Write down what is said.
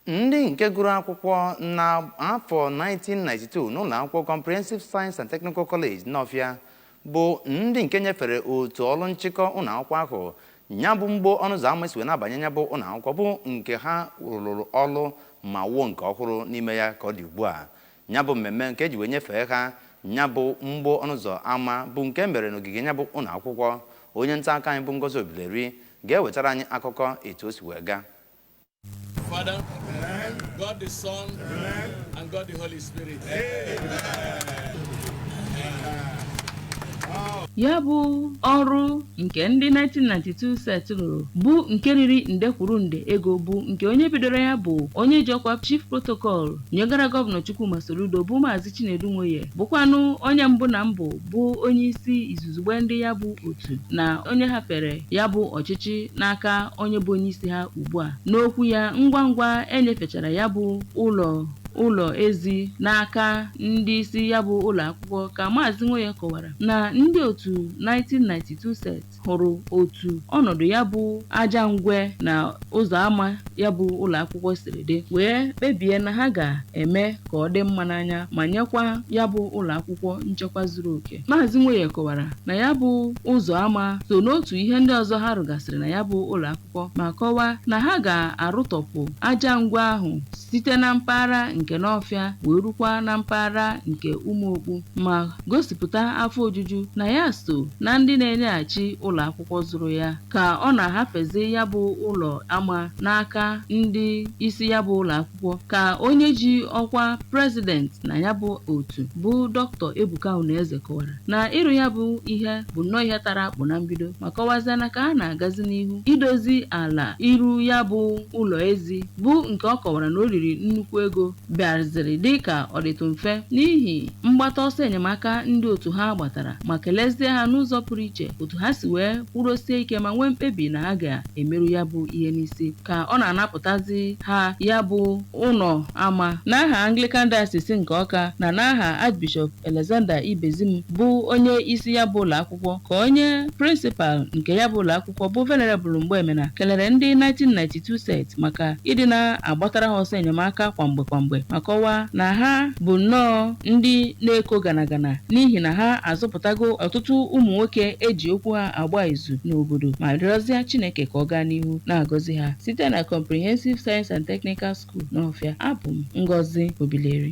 Ndị nke gụrụ akwụkwọ na afọ 1992 n'ụlọ akwụkwọ Comprehensive Science and Technical College Nawfia bụ ndị nke nyefere otu ọrụ nchịkọ ụlọ akwụkwọ ahụ ya bụ mgbo ọnụ ụzọ ama e si wee na-abanye ya bụ ụlọ akwụkwọ bụ nke ha rụrụ ọrụ ma wuo nke ọhụrụ n'ime ya ka ọ dị ugbu a ya bụ mmemme nke eji wee nyefee ha ya bụ mgbo ọnụ ụzọ ama bụ nke e mere n'ogige ya bụ ụlọ akwụkwọ onye nta akụkọ anyị bụ Ngozi Obileri ga-ewetara anyị akụkọ etu o si wee gaa Father, Amen. God the Son, Amen. and God the Holy Spirit. ya bụ ọrụ nke ndị 1992 set rụrụ bụ nke riri nde kwuru nde ego bụ nke onye bidoro ya bụ onye ji ọkwa chief protocol nyegara gọvanọ Chukwuma Soludo bụ maazị Chinedu Nwoye bụkwanụ onye mbụ na mbụ bụ onye isi izuzugbe ndị ya bụ otu na onye hafere ya bụ ọchịchị n'aka onye bụ onye isi ha ugbu a n'okwu ya ngwa ngwa enyefechara ya bụ ụlọ ụlọ ezi n'aka ndị isi ya bụ ụlọ akwụkwọ ka maazị Nwoye kọwara na ndị otu 1992 set hụrụ otu ọnọdụ ya bụ aja ngwe na ụzọ ama ya bụ ụlọ akwụkwọ siri dị wee kpebie na ha ga-eme ka ọ dị mma n'anya ma nyekwa ya bụ ụlọ akwụkwọ nchekwa zuru oke maazị Nwoye kọwara na ya bụ ụzọ ama so n'otu ihe ndị ọzọ ha rụgasịrị na ya bụ ụlọ akwụkwọ ma kọwaa na ha ga-arụtọpụ aja ngwe ahụ site na mpaghara nke Nawfia wee rukwa na mpaghara nke Umuokpu ma gosipụta afọ ojuju na ya so na ndị na-enyeghachi ụlọ akwụkwọ zụrụ ya ka ọ na-ahafezi ya bụ ụlọ ama n'aka ndị isi ya bụ ụlọ akwụkwọ ka onye ji ọkwa prezident na ya bụ otu bụ dọktọ Ebuka Unaeze kọwara na ịrụ ya bụ ihe bụ nnọọ ihe tara akpụ na mbido ma kọwazie na ka a na-agazi n'ihu idozi ala ịrụ ya bụ ụlọ ezi bụ nke ọ kọwara na o riri nnukwu ego bịaziri dị ka ọ dịtụ mfe n'ihi mgbata ọsọ enyemaka ndị otu ha gbatara ma kelezie ha n'ụzọ pụrụ iche otu ha si wee kwụrụsie ike ma nwee mkpebi na ha ga emeru ya bụ ihe n'isi ka ọ na-anapụtazi ha ya bụ ụlọ ama n'aha Anglican Diocese nke Ọka na n'aha Archbishop Alexander Ibezim bụ onye isi ya bụ ụlọ akwụkwọ ka onye prịnsịpal nke ya bụ ụlọ akwụkwọ bụ Venerable Mgbemena kelere ndị 1992 set maka ịdị na-agbatara ha ọsọ enyemaka kwa mgbe kwa mgbe ma kọwaa na ha bụ nnọọ ndị na-eko gana gana n'ihi na ha azụpụtago ọtụtụ ụmụ nwoke eji okwu ha agba izu n'obodo ma rịọzịa Chineke ka ọ gaa n'ihu na-agọzi ha site na Comprehensive Science and Technical School Nawfia. Abụ m Ngozi Obileri.